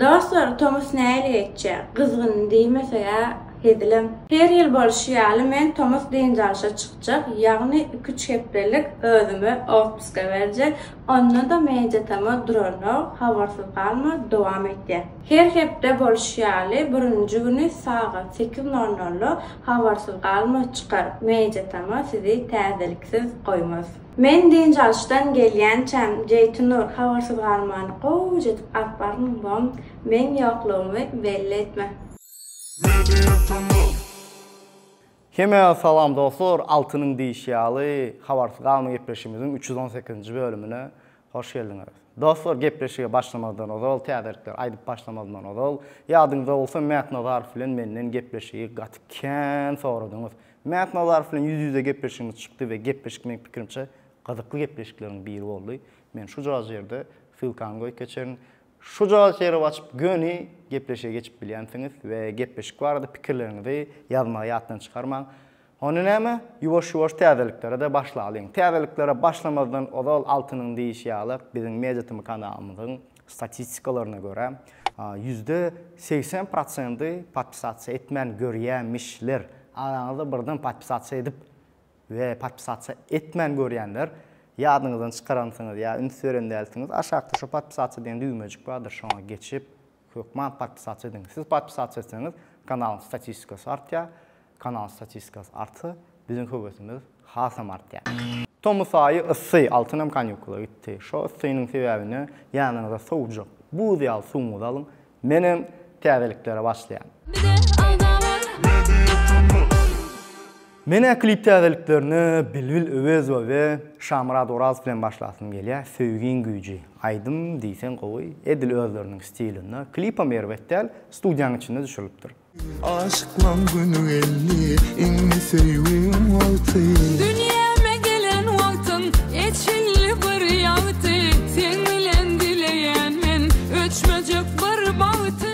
Dostlar tomus nähili geçjä? Gyzgyn diýmeseg-ä hezilem. Her ýyl bolşy ýaly men tomus dynç alşa çykjak, ýagny iki-üç hepdelik özüme otpuska berjek, onda-da men jatama duranok, habarsyz galma, dowam etýä. Her hepde bolşy ýaly birinji güni sagat sekiz nol nolda habarsyz galma çykar, men jatama sizi täzeliksiz goýmaz. Men dynç alyşdan gelýänçäm, Jeýtynur, habarsyz galmany gowuja edip alyp bargyn, wam, meň ýoklugymy belli etme. Hemä salam dostlar, Altynyň diýişi ýaly, Habarsyz galma gepleşigimiziň üç ýüz on sekizinji bölümine hoş geldiňiz. Dostlar, gepleşige başlamazdan ozal, täzelikleri aýdyp başlamazdan ozal, ýadyňyzda bolsa Mätnazarow bilen menden gepleşigi gaty kän soradyňyz. Mämmet Nazarow bilen ýüz-ýüze gepleşigimiz çykdy we gepleşik meň pikirimçe gyzykly gepleşikleriň biri boldy. Men şujagaz ýerde ssylkany goýup geçerin. Şujagaz ýeri açyp göni gepleşige geçip bilýänsiňiz we gepleşik barada pikirleriňizi ýazmagy ýatdan çykarmaň. Onda näme, ýuwaş-ýuwaş täzeliklere-de başlalyň. Täzeliklere başlamazdan ozal Altynyň diýişi ýaly biziň MediaTm kanalymyzyň Statistikalaryna görä, ýüzde segsen prosenty podpisasiýa etmän görýämişler. Araňyzda birden podpisasiýa edip we podpisasiýa etmän görýänler ýadyňyzdan çykaransyňyz ýa üns beren dälsiňiz. Aşakda şu podpisasiýa diýen düwmejik bardyr, şoňa geçip, hökman podpisasiýa ediň. Siz podpisasiýa etseňiz, kanalyň statistikasy artýar, Kanal statistikasy artsa, biziň höwesimiz hasam artýar. Tomus aýy yssy, Altynem kanýukula gitdi. Şo yssynyň sebäbine ýanyňyza sowujak, buz ýaly suwuňyzy alyň. Menem täzeliklere başlaýan. Menä klip täzeliklerine Bilbil Öwezowa we Şamyrat Orazow bilen başlasym gelýä, Söýgiň güýji. Aýdym diýseň gowy, edil özleriniň stilinde. Klipem erbet däl, studiýanyň içinde düşürilipdir. Aşyklaň güni geldi indi söýgüň wagty Dünýäme gelen wagtyň eçilli bir ýagty Seň bilen dileýän men öçmejek bir bagty.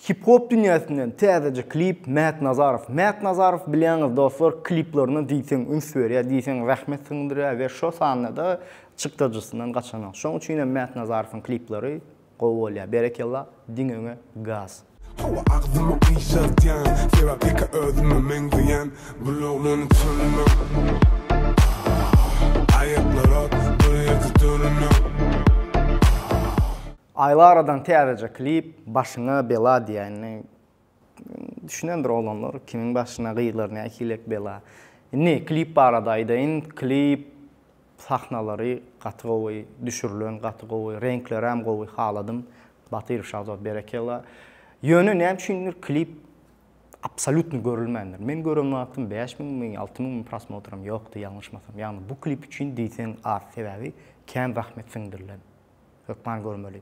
Hip hop dünýäsinden täzeje klip Märt Nazarow Märt Nazarow bilýäňiz dostlar kliplaryna diýseň üns berýär diýseň zähmet siňdirýär we şo sanda-da çykdajysyndan gaçanok şoň üçinem Märt Nazarowyň kliplary Gowy bolýa berekella diňe öňe gaz. Hawa agzyma gyşartýan sebäp ýeke özüme meňzeýän bul oglany tanymyok aah aýaklara bir ýerde dönümyok aah. Aýlaradan täzeje klip başyňa bela diýäýnli. Düşünendir oglanlar kimiň başyna gyzlar nähilek bela. Indi klip barada aýdaýyn. Klip sahnalary gaty gowy, düşürilen gaty gowy, reňkleräm gowy haladym. Batyrow Şahzod berekella. Ýöne näme üçindir klip absolýutno görülmändir. Men gören wagtym bäş müňmi, alty müňmi prosmotram ýokdy ýalňyşmasam. Ýagny bu klip üçin diýseň az. Sebäbi kän zahmet siňdirilen. Hökman görmeli.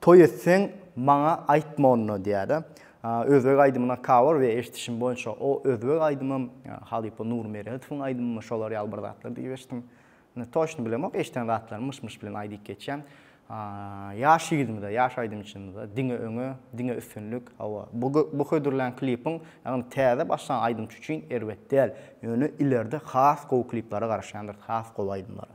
Toý etseň, maňa aýtma onda, diýýär-de. Özbek aýdymyna cover we eşidişim boýunça o özbek aýdymym, halypa Nurmeretowyň aýdymymy şolar ýaly bir zatlar diýip eşitdim. Indi toçno bilemok, eşiden zatlarym myş-myş bilen aý diýip geçýän. Ýaş ýigidimize, ýaş aýdymçymyza diňe öňe, diňe üstünlik. Hawa, bu bu hödürlän klipiň, ýagny täze başlan aýdymçy üçin erbet däl. Ýöne ilerde has gowy kliplere garaşýandyrys, has gowy aýdymlara.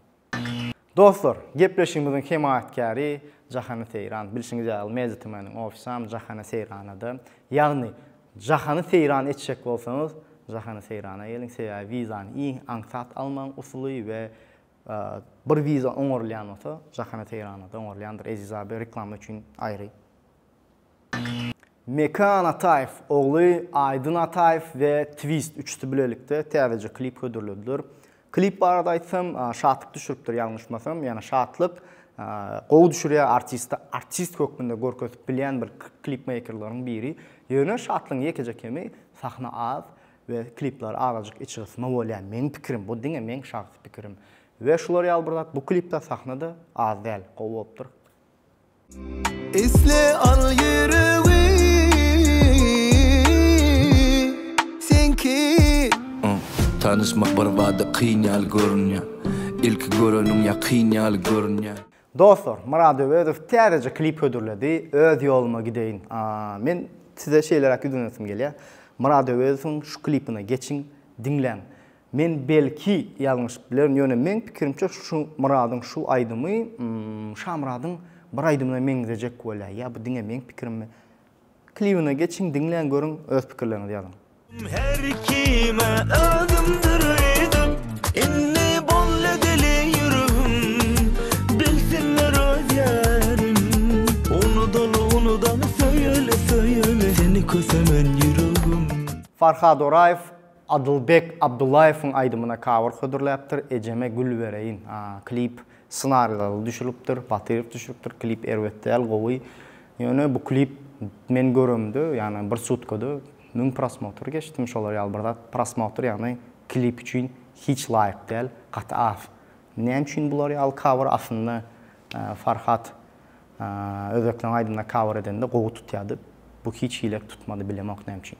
Dostlar, gepleşigimiziň hemaýatkäri Jahany Seýran. Bilşiňiz ýaly, Media TM-niň ofisam Jahana Seýranada. Ýagny, Jahany Seýran etjek bolsaňyz, Jahana Seýrana geliň, sebäbi wizany iň aňsat almagyň usuly we bir wiza oňarylýan bolsa, Jahana Seýranada oňarylýandyr. Eziz abi, reklama üçin aýry. Mekan Ataýew ogly Aýdyn Ataýew we Twist üçüsi bilelikde täzeje klip hödürlediler. Klip barada aýtsam, Şatlyk düşüripdir, ýalňyşmasam, ýagny Şatlyk gowy düşürýär, artisti artist hökmünde görkezip bilýän bir klipmeýkerleriň biri. Ýöne Şatlygyň ýekeje kemi, sahna az we kliplary azajyk içgysma bolýar, meň pikirim, bu diňe meň şahsy pikirim. We şular ýaly bir zat, bu klipde sahna-da az däl, gowy bolupdyr. Isle al ýüregi seňki. Tanyşmak birbada kyn ýaly görünýär, Ilki göreniň ýakyn ýaly görünýär. Dostlar Murad Öwezow täzeje klip hödürledi Öz ýoluma gideýin Men size şeýleräk ýüzlenesim gelýär Murad Öwezowyň şu klipine geçiň diňläň Men belki ýalňyşyp bilerin ýöne meň pikirimçe şu Myradyň şu aýdymy Şamyradyň bir aýdymyna meňzejek welä ýa bu diňe meň pikirimmi? Klibine geçiň diňläň görüň öz pikirleriňizi ýazyň. Her kime özümdir ýigit Indi boldy dili ýüregim Bilsinler öz ýarim Unudaly unudaly söýeli söýeli Seni kösemen ýüregim. Farhad Oraýew Adylbek Abdullaýewiň aýdymyna kawer hödürläpdir, Ejeme gül bereýin. Klip ssenarileri düşülipdir, Batyrow düşüripdir, klip erbet däl, gowy. Ýöne bu klip men göremde, ýagny bir sutkada müň prosmotr geçdim, şolar ýaly bir zat. Prosmotr ýagny klip üçin hiç laýyk däl, gaty az. Näme üçin bular ýaly kawer? Aslynda Farhat özbekleň aýdymyna kawer edende gowy tutýardy. Bu hiç hili tutmady, bilemok näme üçin.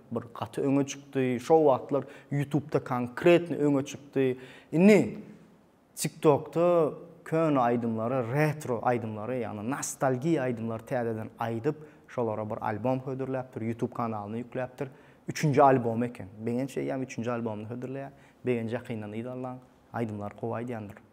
Bir gaty öňe çykdy. Şo wagtlar ýutubda konkretno öňe çykdy. Indi tiktokda köne aýdymlary, retro aýdymlary, ýagny nostalgiýa aýdymlary täzeden aýdyp, şolara bir albom hödürläpdir, ýutub kanalyna ýükläpdir. Üçünji albomy eken. Begenç eýýäm üçünji albomyny hödürleýär. Begenç ýakyndan yzallaň. Aýdymlary gowy aýdýandyr.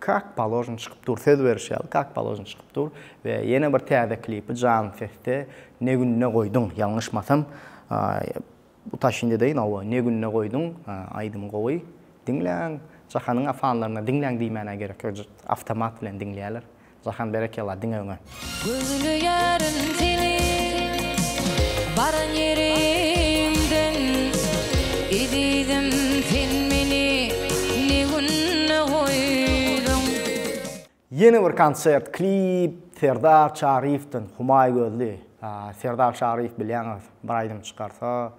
Kak položno çykyp dur söz beriş ýaly kak položno çykyp dur we ýene bir täze klipi jan sesde ne günde goýduň ýalňyşmasam utaşyn edeýin hawa ne günde goýduň aýdym gowy diňläň jahanyň a fanlaryna diňläň diýmäne gerek ýok awtomat bilen diňleýäler jahan berekella diňe öňe. Gözleýärin seni baran ýerimden Ezizim sen meni ne günde goýduň. Ýene bir konsert klip Serdar Çaryýewden Humaý gözli Serdar Çaryýew bilýäňiz bir aýdym çykarsa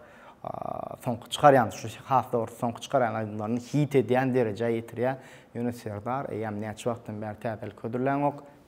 soňky çykarýan şu has dogrusy soňky çykarýan aýdymlaryny hit edýän derejä ýetirýä ýöne Serdar eýýäm näçe wagtdan bäri täzelik hödürläňok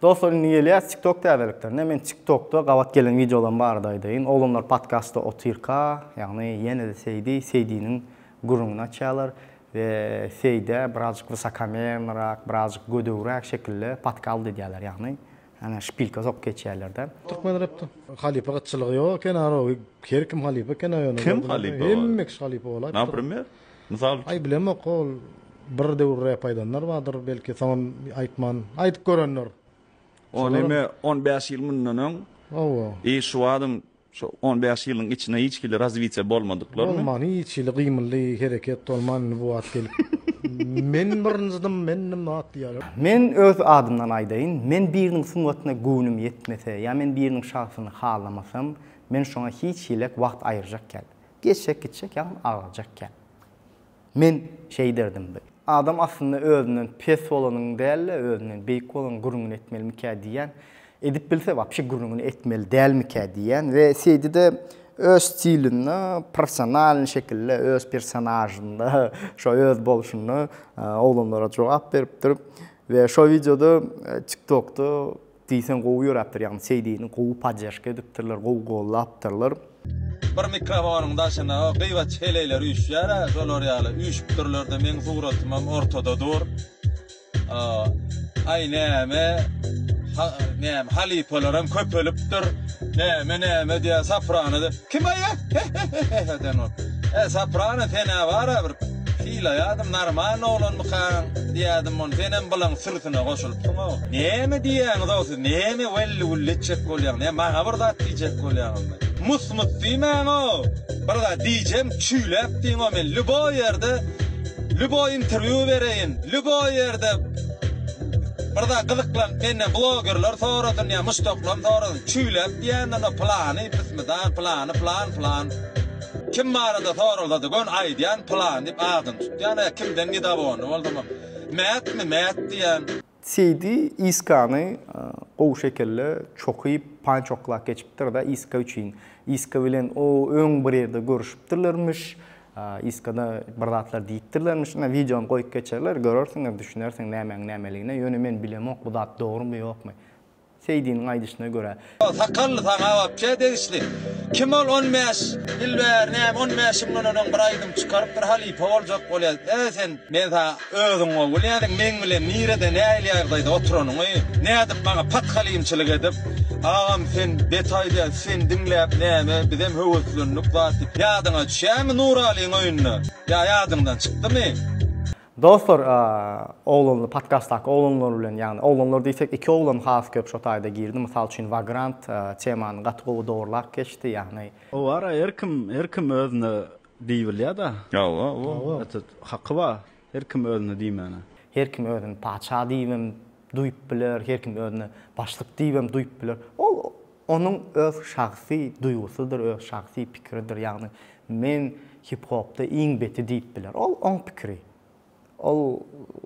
Dostlar indi gelýäs tiktok täzeliklerine. Men tiktokda gabat gelen wideolarym barada aýdaýyn. Oglanlar podkastda otyrka, ýagny ýene-de Seýdi, Seýdiniň gürrüňini açýarlar we Seýdä birazjyk wysokomernorak, birazjyk gödegräk şekilde podkald edýärler, ýagny ýene şpilka sokup geçýärler-de. Türkmen repde halypa gytçylygy ýok eken arowy her kim halypa eken aýony. Kim halypa bar? Hemme kişi halypa bolaýypdyr. Napremýer? Mysal üçin. Aý bilemok ol bir döwür rep aýdanlar bardyr belki soňam aýtman aýdyp görenler. O neme on bäş ýyl mundan öň Hawa. I şu wadyň şu on bäş ýylyň içinde hiç hili razwitiýa bolmadyklarmy? Bolman hiç hili gymyldy hereket bolman indi bu wagt gelip men birinjidim mendim zat diýýärler. Men öz adymdan aýdaýyn men biriniň sungatyna göwnüm ýetmese ýa men biriniň şagsyny halamasam men şoňa hiç hilek wagt aýyrjak kän. Geçjek gitjek ýagny agyrjak gäp. Men şeý derdim bi. Adam aslynda özünden pes bolanyň däl-de özünden beýik bolanyň gürrüňini etmelimikä diýýän. Edip bilse wapşe gürrüňini etmeli dälmikä diýýän we seýdide öz stilinde professionalny şekilde öz personažynda şo öz bolşunda oglanlara jogap beripdir we şo wideoda tiktokda Diýseň gowy ýöräpdir ýagny seýdini gowy podderžka edipdirler gowy gollapdyrlar. Bir mikrofonyň daşyna gyýbaç heleýler üýşýärä şolar ýaly üýşüpdirlerde meň suratymam ortada dur aý näme näme halypalaram köpelipdir näme näme diýä saprana. Kim aýa? Hehehehehe sen ol. He Soprano senä bara bir sylaýadym normalny oglanmykaň diýädim ony senem bylaň sürsüne goşulypsyňow. Näme diýýäňizow siz näme welli wulli etjek bolýaň ne maňa bir zat diýjek bolýaňyzmy. Mus mus diýmäňow bir zat diýjem çüýläp diýňow men lýuboý ýerde lýuboý interwýu bereýin lýuboý ýerde bir zat gyzyklanyp menden blogerler sorasyn ýa muşdaklam sorasyn Çüýlek diýende-ha pylany pismidan, pylany pylan, pylan. Kim barada soralsa-da göni aýdýan pylan diýip adyny tutýan, hä kimden nidawonny boldum. Mätmi, mät diýen. Seýdi Iskany gowy şekilli çokyp, pançoklap geçipdir-de Iska üçin. Iska bilen o öň bir ýerde görüşipdirlermiş. Iskada bir zatlar diýipdirlermiş. Ine wideony goýup geçerler, görersiňiz, düşünersiň nämäň nämeligine. Ýöne men bilemok bu zat dogrymy ýokmy. Seýdiniň aýdyşyna görä. Sakally saňa wapşe degişli. Kim ol on bäş ýyl bäri näme on bäş ýyl mundan öňem bir aýdym çykarypdyr halypa boljak bolýas e sen men saňa özüň gowy bilýädiň meň bilen nirede nähili ýagdaýda oturanyňy nädip maňa pathalimçilik edip agam sen bet aýdýaň seni diňläp näme bizem höweslendik zat ýadyňa düşýämi nuralyň öýünde ýa ýadyňdan çykdymy. Dostlar oglanly podkastdaky oglanlar bilen ýagny oglanlar diýsek iki oglan has köp şo taýda girdi mysal üçin Vagrant temany gaty gowy dogrlap geçdi ýagny. Howara her kim her kim özüne diý bilýä da. Hawa hawa. Etet haky ba her kim özüne diýmäne. Her kim özüni patyşa diýibem duýup biler her kim özüni başlyk diýibem duýup biler ol Onuň öz şahsy duýgusydyr, öz şahsy pikiridir, ýagny men hip-hopda iň beti diýip biler. Ol oň pikiri. Ol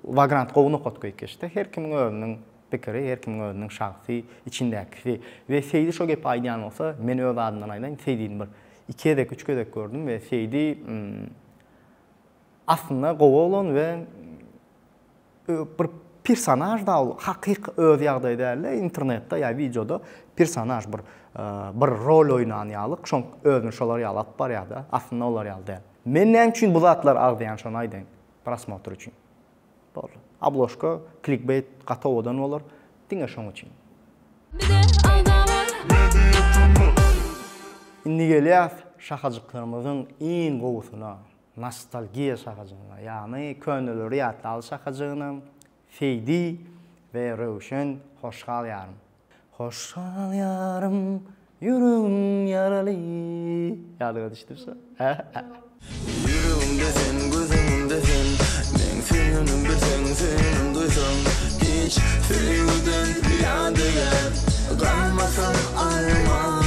Vagrant gowy nokat goýup geçdi. Her kimiň özüniň pikiri, her kimiň özüniň şahsy içindäkisi. We Seýdi şo gepi aýdýan bolsa, men öz adymdan aýdaýyn, Seýdini bir iki gezek, üç gezek gördüm we Seýdi aslynda gowy oglan we Bir personaž da ol hakyky öz ýagdaýy dälde internetde ýa wideoda personaž bir bir rol oýnan ýalyk şoň özüni şolar ýaly alyp barýada aslynda olar ýaly däl. Men näme üçin bu zatlar agzaýan şony aýdaýyn prosmotr üçin boldy obložka klikbeýt gaty owadan bolar diňe şoň üçin. Indi gelýäs şahajyklarymyzyň iň gowusyna. Nostalgiýa şahajygyna, ýagny köneleri ýatlap şahajygyna Feýdi we Röwşen Hoşgal ýarym. Hoşgal ýarym, ýüregim ýaraly ýadyňa düşdümi şo? Ýok. Ýüregimde sen, göz öňümde sen, meň söýenim bilseň, söýenim duýsaň, hiç söýgüden ýadigar galmasyn arman.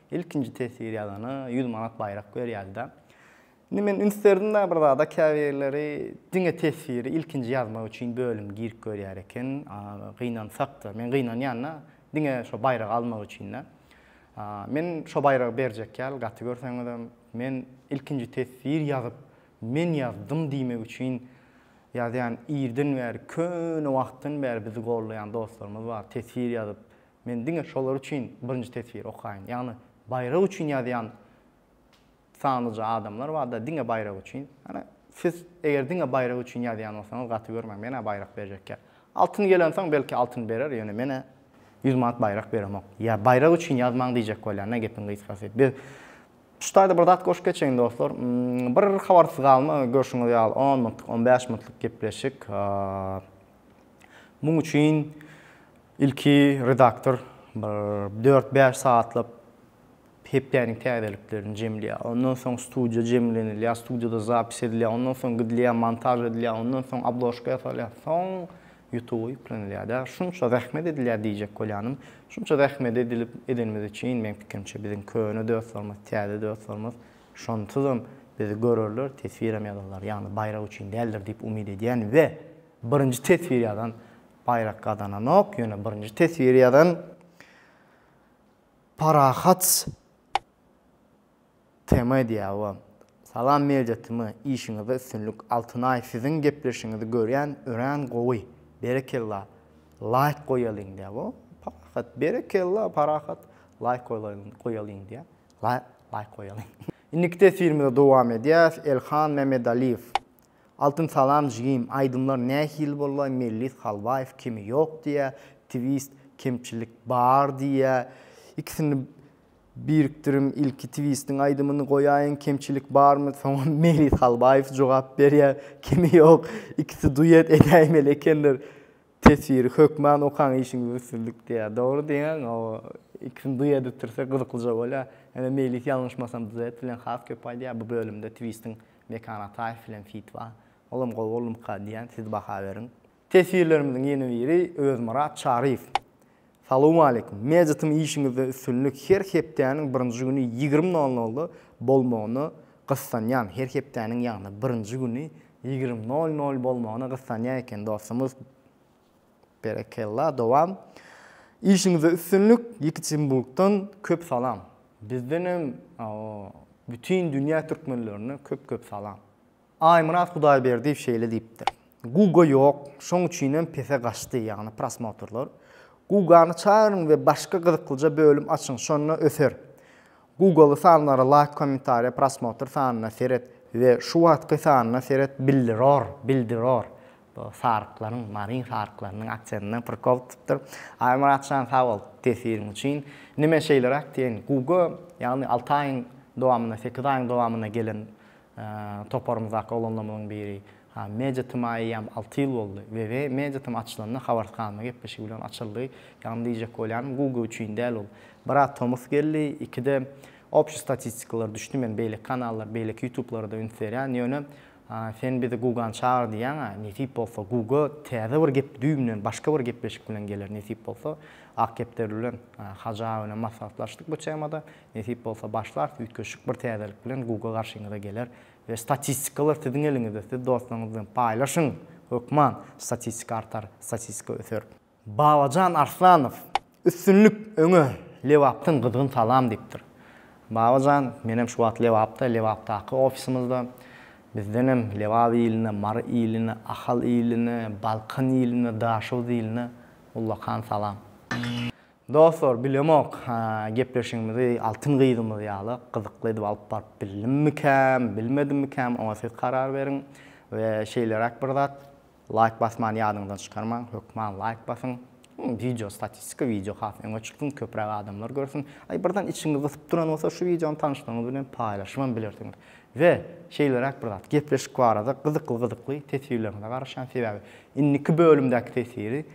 Ilkinji teswir ýazana ýüz manat baýrak berýärdi-de. Indi men üns berdim-de bir zada, käbirleri diňe teswiri ilkinji ýazmak üçin bölüm girip görýär eken, gynansakda, men gynanýan-da, diňe şo baýragy almak üçin-de. Men şo baýragy berjek ýaly, gaty görseňizem, men ilkinji teswir ýazyp, men ýazdym diýmek üçin ýazýan, irden bäri, köne wagtdan bäri bizi gollaýan dostlarymyz bar, teswir ýazyp, Men diňe şolar üçin birinji teswiri okaýyn. Ýagny baýrak üçin ýazýan sanlyja adamlar barda diňe baýrak üçin. Ýagny siz eger diňe baýrak üçin ýazýan bolsaňyz gaty görmäň. Men-ä baýrak berjek ýa. Altyn gelensoň belki altyn berer, ýöne men-ä ýüz manat baýrak beremok. Ýa baýrak üçin ýazmaň diýjek bolýan-da gepiň gysgasy. Biz şu taýda bir zat goşup geçeýin dostlar. Bir habarsyz galma görşüňiz ýaly on minutlyk, on bäş minutlyk gepleşik. Muň üçin Ilki redaktor bir dört-bäş sagatlap hepdäniň täzeliklerini jemleýär. Ondan soň studiýa jemlenilýär, studiýada zapis edilýär, ondan soň gidilýär, montaž edilýär, ondan soň obložka ýasalýar, soň Ýutuba ýüklenilýär-dä. Şunça zähmet edilýär diýjek bolýanym. Şunça zähmeti edilip edenimiz üçin, meň pikirimçe, biziň köne dostlarymyz, täze dostlarymyz şonsuzam bizi görerler, teswirem ýazarlar. Ýagny baýrak üçin däldir diýip umyt edýän we birinji teswir ýazan Baýrak gazananok, ýöne birinji teswiri ýazan Parahat TM diýýär. Salam Media TM, işiňizde üstünlik. Altynaý siziň gepleşigiňizi görýän, örän gowy. Berekella. Laýk goýalyň diýýär. O, Parahat, berekella Parahat. Laýk goýalyň, goýalyň diýýär. Laýk goýalyň. Indiki teswirimize dowam edýäs. Elhan Mämedaliýew. Altyn salam jigim aýdymlar nähili bollaý Mellis Halwaýew kemi ýok diýýä Twist kemçilik bar diýýä ikisini birikdirin ilki Twistiň aýdymyny goýaýyň kemçilik barmy soňam Melis Halwaýew jogap berýä kemi ýok ikisi duet edäýmeli ekenler Teswiri hökman okaň işiňizde üstünlik diýýär. Dogry diýýäň o ikisini duýa edipdirse gyzyklyja bolýar. Ýöne Meýlis ýalňyşmasam duet bilen has köp aýdýar. Bu bölümde Twistiň Mekan Ataýew bilen fit bar. Olam gowy boldumyka diýýän siz baha beriň. Teswirlerimiziň ýene biri Özmyrat Çaryýew. Salowmaleýkum. Mejitim işiňizde üstünlik her hepdäniň birinji güni ýigrimi nol nolda bolmagyna gyssanýan her hepdäniň ýagny birinji güni ýigrimi nol nol bolmagyna gyssanýa eken dostumyz berekella dowam işiňizde üstünlik ýekiçinburgdan köp salam bizdenem bütin dünýä türkmenlerine köp köp salam. Aýmyrat Hudaýberdiýew şeýle diýipdir, Guga ýok, şoň üçinem pese gaçdy, ýagny prosmotrlar. Gugany çagyryň we başga gyzyklyja bölüm açyň, şonda öser. Gugaly sanlara laýk kommentariýa prosmotr sanyna seret we şu wagtky sanyna seret bildiror, bildiror. Bu saryklaryň, maryň saryklarynyň aksendinden prikol tutupdyr. Aýmyratjan sag bol tesiriň üçin. Neme şeýleräk diýeýin, Guga, ýagny alty aýyň dowamynda, sekiz aýyň dowamynda gelen Toparymyzdaky oglanlarymyzyň biri, Ha, Media TM-a eýýäm alty ýyl boldy. WW Media TM açylanda habarsyz galma gepleşigi bilen açyldy. Ýagny diýjek bolýanym, Google üçin däl ol. Bir-ä tomus geldi, iki-de obşi statistikalar düşdi. Men beýleki kanallar, beýleki ýutublara-da üns berýän. Ýöne sen bizi Google-a çagyr diýýäň-ä. Nesip bolsa, Google täze bir gep düýbünden başga bir gepleşik bilen geler, nesip bolsa. Akgepderli bilen Hajy aga bilen maslahatlaşdyk bu temada. Nesip bolsa başlarys üýtgeşik bir täzelik bilen Google garşyňyza geler we statistikalar siziň eliňizde siz dostlaryňyz bilen paýlaşyň hökman statistika artar statistika öser. Babajan Arslanow üstünlik öňe Lebapdan gyzgyn salam diýipdir. Babajan menem şu wagt Lebapda Lebapdaky ofisimizde bizdenem Lebap iline Mary iline Ahal iline Balkan iline Daşoguz iline ullakan salam. Dostlar bilemok gepleşigimizi altyn gyzymyz ýaly gyzykly edip alyp baryp bildimmikäm bilmedimmikäm oňa siz karar beriň we şeýleräk bir zat laýk basmany ýadyňyzdan çykarmaň hökman laýk basyň wideo statistika wideo has öňe çyksyn köpräk adamlar görsün aý birden içiňiz gysyp duran bolsa şu wideony tanyşlaryňyz bilen paýlaşyp hem bilersiňiz we şeýleräk bir zat gepleşik barada gyzykly gyzykly teswirleriňize garaşýan sebäbi indiki bölümdäki teswiri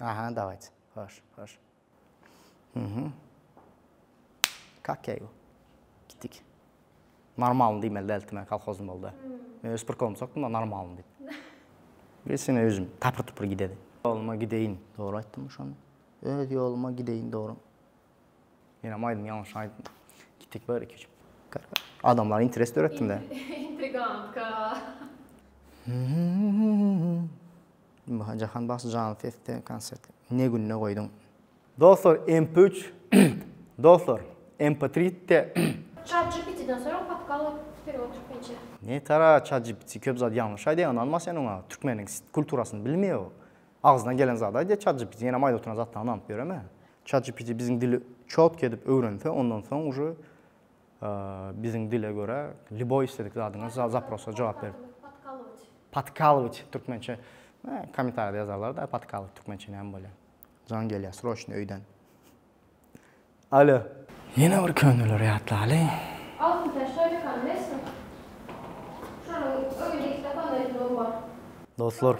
Aha, dawayt. Hoş, hoş. Mhm. Kakey bu. Gitdik. Normalny diýmeli däldi, men kolhozny boldy. Men öz prikolymy sokdum da normalny diýip. Geçen özüm tapyr-tupur gidedi. Ýoluma gideýin, dogry aýtdym şony. Öz ýoluma gideýin, dogry. Men hem aýdym, ýalňyş aýdym. Gitdik bir iki üç. Adamlar interes döretdim-de. Intrigantka. Jahan bagşy janly sesde konsert ne günde goýduň. Dostlar MP üç Dostlar MP tri de. Çat GPT den soraň podkal wperiod türkmençe. Ne tara çat GPT köp zat ýalňyş aýdýa ynanma sen oňa türkmeniň kulturasyny bilmeýä o agzyna gelen zady aýdýa çat GPT senem aýdyp oturan zatlaňy ynanyp ýöreme çat GPT biziň dili çotky edip öwrense ondan soň uje Biziň dile görä lýuboý isledik zadyňa zaprosa jogap berip. Podkalowiç. Podkalowiç türkmençe. Kommentariýada ýazarlar-da podkalowiç türkmençe näme bolýar. Jaň gelýär sroçny öýden. Alo. Ýene bir köneleri ýatlaly. Altyn täç toýjakany bilesiňmi? Şonuň öýünde iki tapandan ýüzügi bar. Dostlar,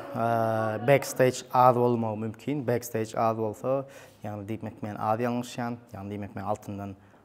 backstage az bolmagy mümkin. Backstage az bolsa, ýagny diýmek men az ýalňyşýan. Ýagny diýmek men altyndan